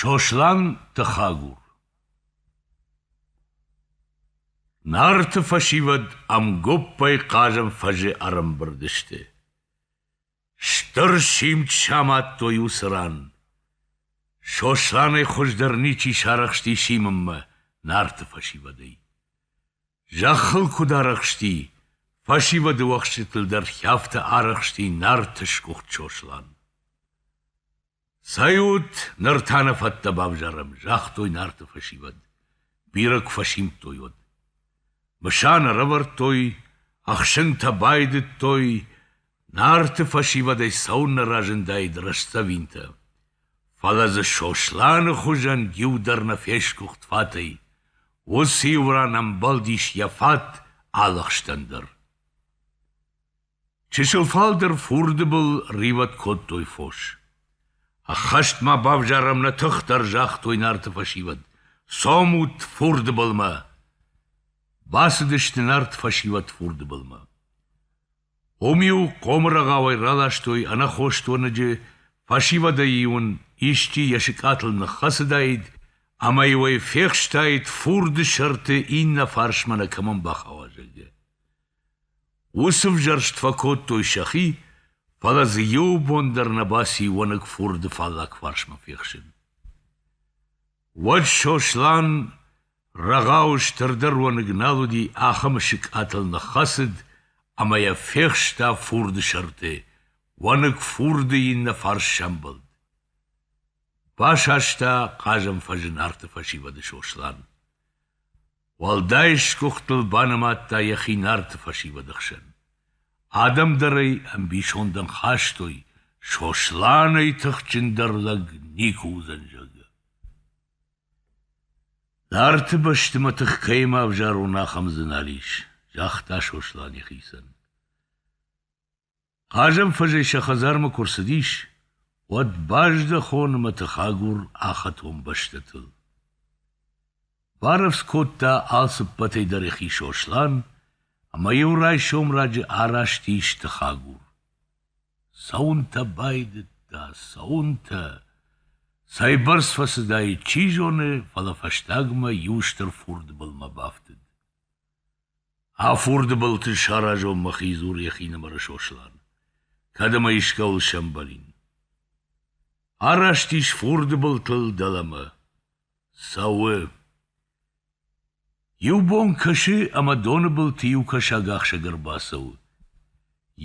Сослан Тыхагур Нарты фӕсивӕд ӕмгоппӕй хъазӕн фӕзы ӕрӕмбырд сты. Стыр симд самадтой уыцы ран. Сосланӕй хуыздӕр ничи сарӕхсти симынмӕ Нарты фӕсивӕдӕй. Зӕххыл куыд арӕхсти, фӕсивӕды уӕхсчытыл дӕр хӕфтӕ арӕхсти Нарты сгуыхт Сослан. Цӕй ут, ныр та нӕ фӕттӕ бавзарӕм, загътой Нарты фӕсивӕд. Бирӕ куы фӕсимдтой уӕд. Мысан ӕрӕвӕрдтой, ӕхсынтӕ байдыдтой, Нарты фӕсивӕдӕй цӕуыннӕ разындаид рӕстдзӕвинтӕ, фӕлӕ дзы Сосланы хуызӕн иу дӕр нӕ фесгуыхт фатӕй, уыцы-иу ран ӕмбӕлдис йӕ фат алыхстӕн дӕр. Чысыл фалдӕр фурды был ривӕд кодтой фос. Ӕххӕст ма бавзарӕм нӕ тыхдӕр, загътой Нарты фӕсивӕд. Цомут фурды былмӕ! Бацыдысты Нарты фӕсивӕд фурды былмӕ. Уым-иу хъомы рӕгъауӕй раластой ӕнаххос тоныджы, фӕсивӕдӕй-иу ын исчи йӕ сыкъатыл ныххӕцыдаид ӕмӕ-иу ӕй фехстаид фурды сӕрты иннӕ фарсмӕ нӕ кӕмӕн бахауа, зӕгъгӕ. Уыцы взӕрст фӕкодтой сӕхи, фӕлӕ дзы иу бон дӕр нӕ баци уӕныг фурды фаллаг фарсмӕ фехсын. Уӕд Сослан Рӕгъауы стырдӕр уӕныг нал уыди, ахӕм сыкъатыл ныххӕцыд ӕмӕ йӕ фехста фурды сӕрты, уӕныг фурды иннӕ фарс сӕмбӕлд. Басаста хъазӕн фӕзы нарты фӕсивӕды Сослан. Уӕлдай сгуыхтыл банымадта йӕхи нарты фӕсивӕды хсӕн. Адӕм дӕр ӕй ӕмбисондӕн хастой, Сосланӕй тыхджындӕр лӕг никуы уыдзӕн, зӕгъгӕ. Нарты бӕсты мӕ тых кӕимӕ ӕвзарон, ахӕм дзынал ис, загъта Сослан йӕхицӕн. Хъазӕнфӕзӕй сӕ хӕдзармӕ куы рцыдис, уӕд баздӕхон мӕ тыхагур ахӕтон бӕстӕтыл. Барӕвдз кодта алцыппӕтӕй дӕр йӕхи Сослан, ӕмӕ иу райсом раджы араст ис тыхагур. Цӕуынтӕ байдыдта, цӕуынтӕ. Цӕйбӕрц фӕцыдаид, чи зоны, фӕлӕ фӕстагмӕ иу стыр фурды былмӕ бафтыд. А фурды былты саразон мӕхи, дзур йӕхинымӕры Сослан, кӕд ӕмӕ искӕуыл сӕмбӕлин. Араст ис фурды былтыл дӕлӕмӕ. Цӕуы. Иу бон кӕсы ӕмӕ доны былты иу кӕсагахсӕг ӕрбацӕуы.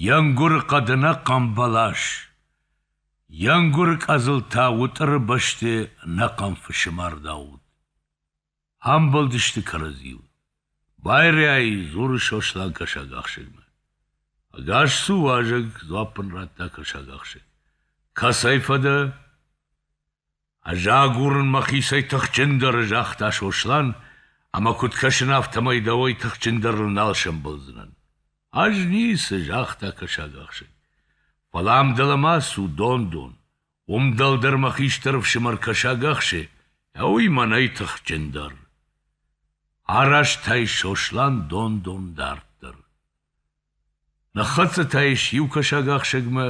Йе нгуыры хъӕды нӕ хъамбӕлас. Йе нгуыры къӕдзылтӕ уытъыры бӕсты нӕ хъӕмфысы мард ауыд. Амбӕлдысты кӕрӕдзиуыл. Байрӕй, дзуры Сослан кӕсагахсӕгмӕ. Ӕгас цу, уазӕг, дзуапп ын радта кӕсагахсӕг. Кӕцӕй фӕдӕ? Ӕз агурын мӕхицӕй тыхджындӕры, загъта Сослан, ӕмӕ куыд кӕсын, афтӕмӕй дӕуӕй тыхджындӕрыл нал сӕмбӕлдзынӕн. Ӕз ницы, загъта кӕсагахсӕг. Фӕлӕ ам дӕлӕмӕ цу дон-дон. Уым дӕлдӕр мӕ хистӕр ӕфсымӕр кӕсаг ахсы, уый мӕнӕй тыхджындӕр. Араст ӕй Сослан дон-дон дарддӕр. Ныххӕццӕ та ис иу кӕсагахсӕгмӕ,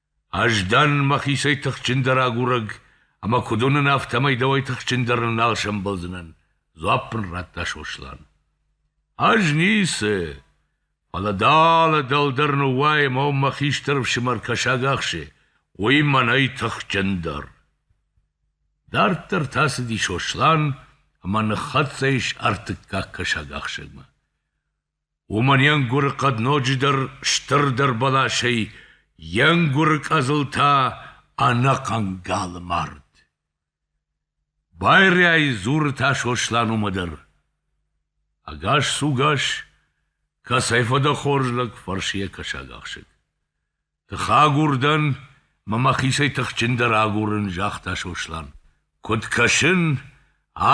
Ӕз дӕн мӕхицӕй тыхджындӕр агурӕг, ӕмӕ куыд уынын, афтӕмӕй дӕуӕй тыхджындӕрыл нал сӕмбӕлдзынӕн, дзуапп мын радта Сослан. Ӕз ницы, фӕлӕ далӕ дӕлдӕр ныууайӕм ӕмӕ мӕ хистӕр ӕфсымӕр кӕсаг ахсы, уый мӕнӕй тыхджындӕр. Дарддӕр та цыди Сослан ӕмӕ ныххӕццӕ ис ӕртыккаг кӕсагахсӕгмӕ. Уымӕн йе нгуыры хъӕд ноджыдӕр стырдӕр бӕласӕй, йе нгуыры къӕдзыл та ӕнӕхъӕн галы мард. Байрӕй дзуры та Сослан уымӕ дӕр: Ӕгас сугас, кӕцӕй фӕдӕ хорз лӕг, фӕрсы йӕ кӕсагахсӕг. Тыхагур дӕн, мӕ мӕхицӕй тыхджындӕр агурын, загъта Сослан. Куыд кӕсын,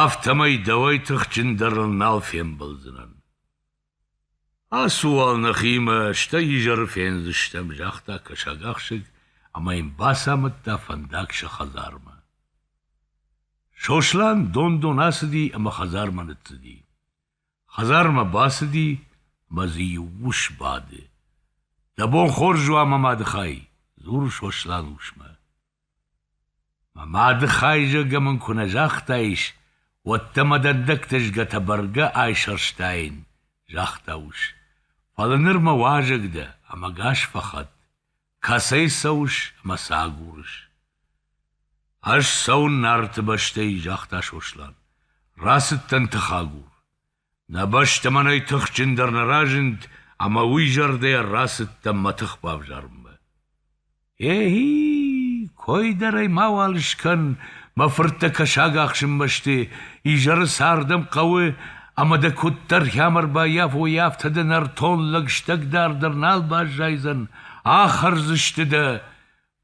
афтӕмӕй дӕуӕй тыхджындӕрыл нал фембӕлдзынӕн. Ацу уал нӕхимӕ, стӕй изӕры фендзыстӕм, загъта кӕсагахсӕг ӕмӕ йын бацамыдта фӕндаг сӕ хӕдзармӕ. Сослан дон-дон ацыди ӕмӕ хӕдзармӕ ныццыди. Хӕдзармӕ бацыди мӕ дзы иу ус бады. — Дӕ бон хорз у ӕмӕ мады хай, — дзуры Сослан усмӕ. Мӕ мады хай зӕггӕ мын куы нӕ загътаис, уӕд дӕ мӕ дӕндӕгтӕ згӕтӕ бӕргӕ айсӕрстаин, — загъта ус. — Фӕлӕ ныр мӕ уазӕг дӕ, ӕмӕ гас фӕхӕтт. Кӕцӕй цӕуыс мӕ цы агурыс? — Ӕз цӕуын Нарты бӕстӕй, — загъта Сослан. — Рацыдтӕн тыхагур. Нӕ бӕстӕ мӕнӕй тыхджындӕр нӕ разынд, ӕмӕ уый зӕрдӕйӕ рацыдтӕн мӕ тых бавзарынмӕ. — Ехи, кой дӕр ӕй мауал скӕн, мӕ фырттӕ кӕсаг ахсынмӕ сты, изӕры цардӕн хъӕуы, ӕмӕ дӕ куыддӕр хъямӕ ӕрбаййафой, афтӕ дӕ нӕртон лӕгстӕг дӕр дӕр нал баззайдзӕн, Ахӕрдзысты дӕ?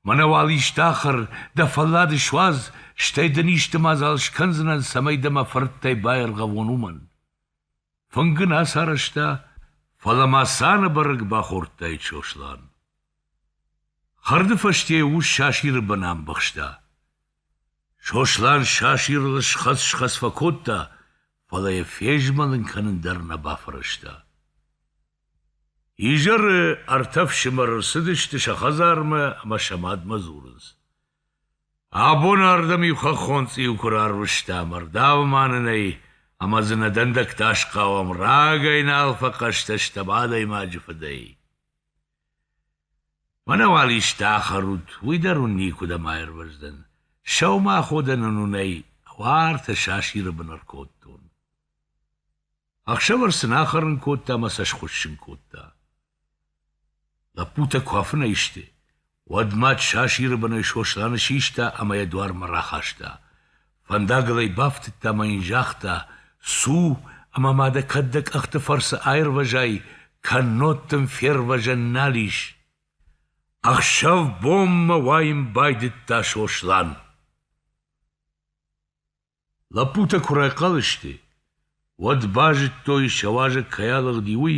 Мӕнӕ уал исты ахӕр, дӕ фӕллад суадз, стӕй дын исты мадзал скӕндзынӕн, цӕмӕй дӕ мӕ фырттӕй баиргъӕвон, уымӕн. Фынг ын ацарӕзта, фӕлӕ ма цаны бӕрӕг бахордтаид Сослан. Хӕрды фӕсте йӕ ус сасиры бын амбӕхста. Сослан сасирыл схӕц-схӕц фӕкодта, фӕлӕ йӕ фезмӕлын кӕнын дӕр нӕ бафӕрӕзта. Изӕры ӕртӕ фсымӕр ӕрцыдысты сӕ хӕдзармӕ ӕмӕ сӕ мадмӕ дзурынц. Абоны ардӕм-иу хӕххон цъиу куы рарвыстам, ӕрдав ма нын ӕй, ӕмӕ дзы нӕ дӕндӕгтӕ асхъауӕм, рагӕй нал фӕхъӕстӕ стӕм адӕймаджы фыдӕй. Мӕнӕ уал исты ахӕрут, уый дӕр уын никуыдӕм аирвӕздзӕн. Сӕумӕходӕн ын уынӕй уартӕ сасиры бын ӕркодтон. Ӕхсӕвӕр сын ахӕрын кодта ӕмӕ сӕ схуыссын кодта. Лӕппутӕ куы афынӕй сты, уӕд мад сасиры бынӕй Сосланы систа ӕмӕ йӕ дуармӕ рахаста. Фӕндагыл ӕй бафтыдта мӕ йын загъта, «Цу, ӕмӕ ма дӕ кӕд дӕ къӕхты фӕрцы аирвӕзай, кӕннод дын фервӕзӕн нал ис». Ӕхсӕв-бонмӕ уайын байдыдта Сослан. Лӕппутӕ куы райхъал сты, уӕд базыдтой, сӕ уӕзӕг кӕй алыгъди, уый,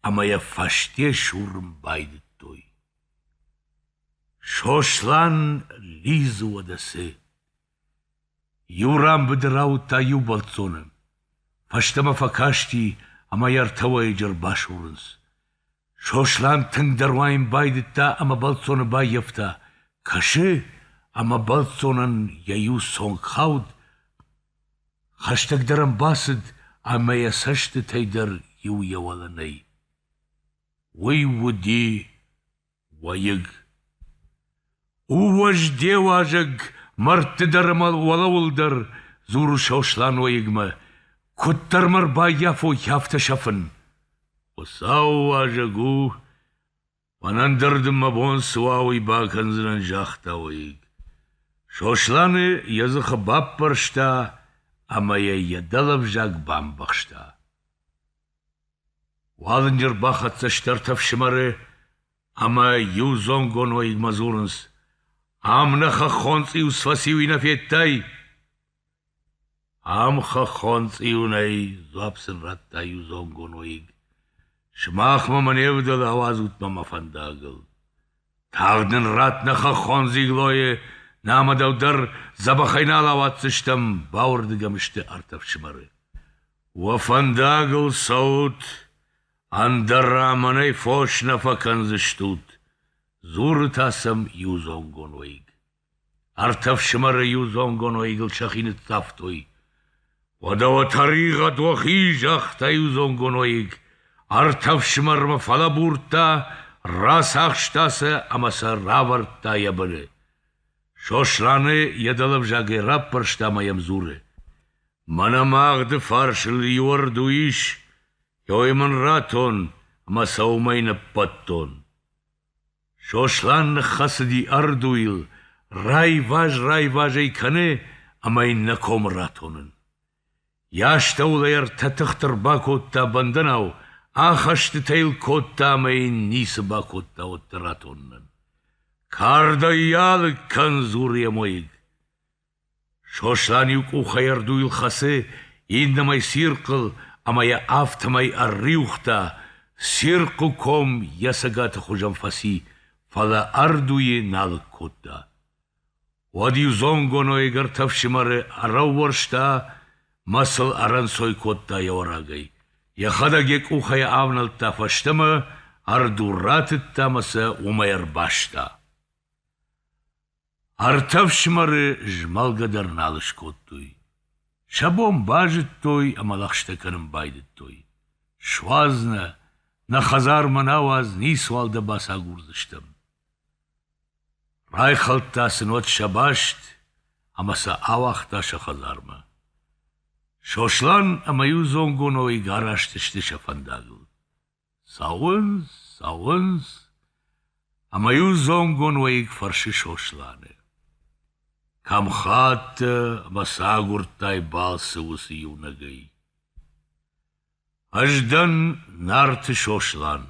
ӕмӕ йӕ фӕсте сурын байдыдтой. Сослан лидзы уӕдӕ цы! Иу ран быдыр ауыдта иу бӕлццоны. Фӕстӕмӕ фӕкасти, ӕмӕ йӕ ӕртӕ уӕйыджы ӕрбасурынц. Сослан тынгдӕр уайын байдыдта ӕмӕ бӕлццоны баййӕфта, кӕсы, ӕмӕ бӕлццонӕн йӕ иу цонг хауд, хӕстӕгдӕр ӕм бацыд ӕмӕ йӕ цӕстытӕй дӕр иу йӕ уӕлӕнӕй. Уый уыди уӕйыг. У уӕзде уазӕг мӕрдты дӕр ӕмӕ уӕлӕуыл дӕр, дзуры Сослан уӕйыгмӕ, куыддӕр мӕ рбаййафой, афтӕ сӕфын. Хуыцауы уазӕг у, мӕнӕн дӕр дын мӕ бон цы уа, уый бакӕндзынӕн, загъта уӕйыг. Сосланы йӕ дзыхы баппӕрста ӕмӕ йӕ йӕ дӕлӕвзаг бамбӕхста. Уалынджы рбахӕццӕ стӕртӕ фсымӕры ӕмӕ иу зонгон уӕйыгмӕ дзурынц: «Ам нӕ хӕххон цъиус фӕци, уый нӕ федтай?» «Ам хӕххон цъиу нӕй», — дзуапп сын радта иу зонгон уӕйыг. «Сымахмӕ мӕ не вдӕлы ауадзут-ма мӕ фӕндагыл. Тагъд нын ратт нӕ хӕххон дзиглойы, нӕ ӕмӕ дӕу дӕр дзӕбӕхӕй нал ауадздзыстӕм», — бауырдыгӕм сты ӕртӕ фсымӕры. Уӕ фӕндагыл цӕут, ӕндӕра мӕнӕй фос нӕ фӕкӕндзыстут, дзуры та сӕм иудзонгон уӕйыг. Ӕртӕ фсымӕры иудзонгон уӕйыгыл сӕхи ныццавтой. — Уӕдӕ уӕ тӕригъӕд уӕхи, — загъта иудзонгон уӕйыг. Ӕртӕ фсымӕрмӕ фӕлӕбурдта, рацахста сӕ ӕмӕ сӕ равӕрдта йӕ быны. Сосланы йӕ дӕлӕвзагӕй раппӕрста ӕмӕ йӕм дзуры. Мӕнӕ мӕ агъды фарсыл иуӕрду ис, йой мын ратон ӕмӕ сӕ уымӕй ныббӕттон. Сослан ныххӕцыди ӕрдуйыл, райваз-райваз ӕй кӕны ӕмӕ йын нӕ комы ратонын. Йӕ астӕуыл ӕй ӕртӕ тыхты ӕрбакодта бӕндӕнау, ахӕстытӕ йыл кодта ӕмӕ йын ницы бакодта уӕддӕр ратонынӕн. Кардӕй йӕ алыг кӕн, дзуры йӕ мойыг. Сослан иу къухӕй ӕрдуйыл хӕцы, иннӕмӕй цирхъыл, ӕмӕ йӕ афтӕмӕй ӕрриуыгъта, цирхъы ком йӕ цӕгаты хуызӕн фӕци, фӕлӕ ӕрдуйы налыг кодта. Уӕд иу зонгоно ӕгӕртӕ ӕфсымӕры ӕрӕууӕрста мӕ сыл ӕрӕнцой кодта йӕ уӕрагӕй. Йӕхӕдӕг йӕ къухӕй авнӕлдта фӕстӕмӕ, ӕрду ратыдта мӕ сӕ уымӕй ӕрбаста. Ӕртӕ фсымӕры змӕлгӕ дӕр нал скодтой. Сӕ бон базыдтой ӕмӕ лӕгъстӕ кӕнын байдыдтой. Суадз нӕ, нӕ хӕдзармӕ науадз, ницуал дӕ бацагурдзыстӕм. Райхӕлдта сынод сӕ баст ӕмӕ сӕ ауагъта сӕ хӕдзармӕ. Сослан ӕмӕ иу зонгоной гаразт сты сӕ фӕндагыл. Цӕуынц, цӕуынц, ӕмӕ-иу зонгон уӕйыг фӕрсы Сосланы: — Кӕм хаттӕ ӕмӕ цы агуырдтай балцы уыцы иунӕгӕй? — Ӕз дӕн Нарты Сослан.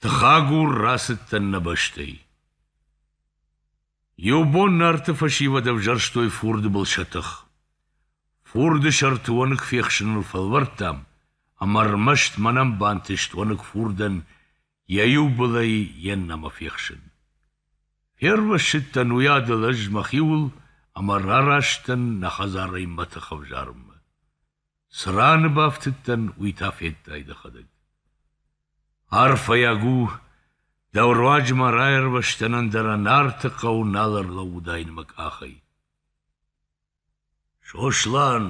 Тыхагур рацыдтӕн нӕ бӕстӕй. Иу бон Нарты фӕсивӕд ӕвзӕрстой фурды был сӕ тых. Фурды сӕрты уӕныг фехсыныл фӕлвӕрдтам, ӕмӕ ӕрмӕст мӕнӕн бантыст уӕныг фурдӕн йӕ иу былӕй йе ннӕмӕ фехсын. Фервӕссыдтӕн уыйадыл ӕз мӕхиуыл ӕмӕ рараст дӕн нӕ хӕдзарӕй мӕ тых ӕвзарынмӕ. Цы раны бафтыдтӕн, уый та федтай дӕхӕдӕг. Арфӕйаг у, дӕу руаджы ма раирвӕзтӕн ӕндӕра Нарты хъӕу нал ӕрлӕууыдаин мӕ къахӕй. Сослан,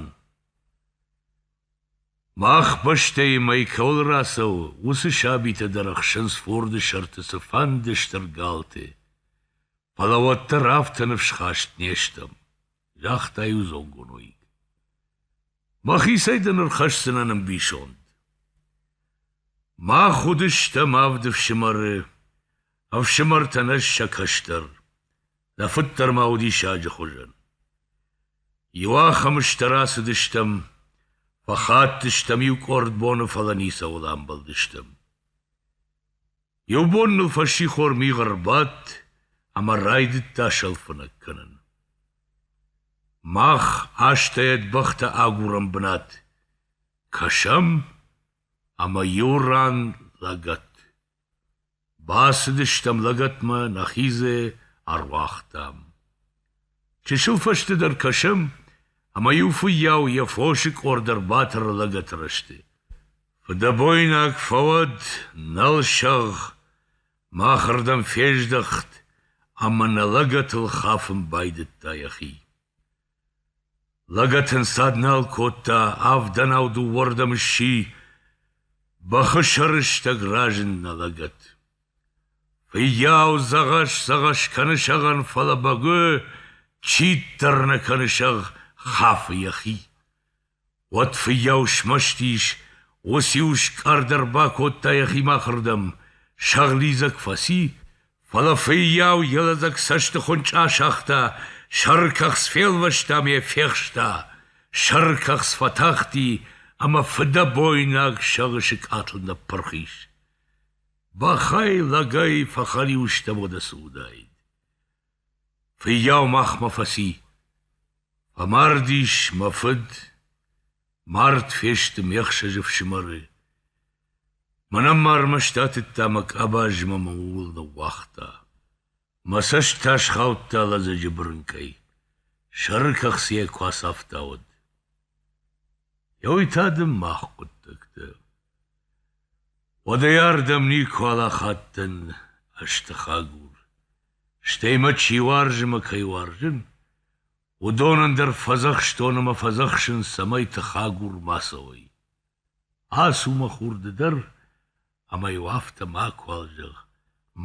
мах бӕстӕйы мӕй кӕуыл рацӕуы, уыцы сабитӕ дӕр ӕхсынц форды сӕрты цыфӕнды стыр галты, фӕлӕ уӕддӕр афтӕ ныфсхаст не стӕм. Загъта иу зонгуынуйг. — Мӕхицӕй дын ӕрхӕсдзынӕн ӕмбисонд. Мах уыдыстӕм авд ӕфсымӕры, ӕфсымӕртӕн ӕз сӕ кӕстӕр, дӕ фыд дӕр ма уыди саджы хуызӕн. Иуахӕмы стӕ рацыдыстӕм, фӕхаттыстӕм иу къорд боны, фӕлӕ ницӕуыл амбӕлдыстӕм. Иу бон ныл фӕссихор мигъ ӕрбадт ӕмӕ райдыдта сӕлфынӕг кӕнын. Мах астӕйӕ бӕхтӕ агурӕм бынат кӕсӕм ӕмӕ иу ран лӕгӕт. Бацыдыстӕм лӕгӕтмӕ, нӕхизе ӕруагътам. Чысыл фӕстӕдӕр кӕсӕм, ӕмӕ иу фыййау йӕ фосы къорд ӕрбатӕры лӕгӕты рӕзты. Фыдӕбойнаг фӕуӕд, нӕлсӕгъ, махырдӕм фездӕхт ӕмӕ нӕ лӕгӕтыл хафын байдыдта йӕхи. Лӕгӕт ын цад нал кодта, авдӕнау дыууӕрдӕм сси, бӕхы сӕрыстӕг разынна лӕгӕт. Фыййау дзӕгъӕс-дзӕгъӕс кӕны сӕгъӕн, фӕлӕ бӕгуы, читдӕр нӕ кӕны сӕгъ, хафы йӕхи. Уӕд фыййау смӕсты ис, уыциу скъӕрд ӕрбакодта йӕхимӕ ахырдӕм, сӕгълидзӕг фӕци, фӕлӕ фыййау йӕ лӕдзӕг цӕстыхуынчъы асагъта, сӕркӕхц фелвӕста мӕ фехста, сӕркӕхц фӕтахти ӕмӕ фыдӕбойнаг сӕгъы сыкъатыл ныппырх ис. Бӕхӕй, лӕгӕй фӕхӕлиу стӕм уыдӕсы уыдаид. Фыййау махмӕ фӕци. Фӕмардис мӕ фыд, мард фесты ме хсӕзы фсымӕры. Мӕнӕн ма ӕрмӕст атыдта мӕ къабаз мӕ мӕ ууыл ныууагъта. Мӕ цӕст та схаудта лӕдзӕджы бырынкъӕй. Сӕры кӕхцыйӕ куы ацафтауӕд. Ёй та дын мах хъуыддӕгтӕ. Уӕдӕй ардӕм никуал ахаттӕн ӕз тыхагур. Стӕй мӕ чи уарзы мӕ кӕй уарзын, уыдон ӕндӕр фӕдзӕхстон ӕмӕ фӕдзӕхсынц, цӕмӕй тыхагур ма цӕуой. Ацу мӕ хурды дӕр ӕмӕ-иу афтӕ макуал зӕгъ,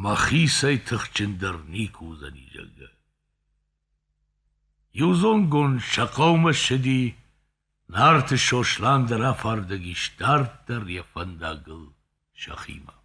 мӕхицӕй тыхджындӕр никуы уыдзӕни, зӕгъгӕ. Иу зонгонд сӕ хъӕумӕ ссыди, Нарты Сослан дӕр афардӕг ис дарддӕр йӕ фӕндагыл сӕхимӕ.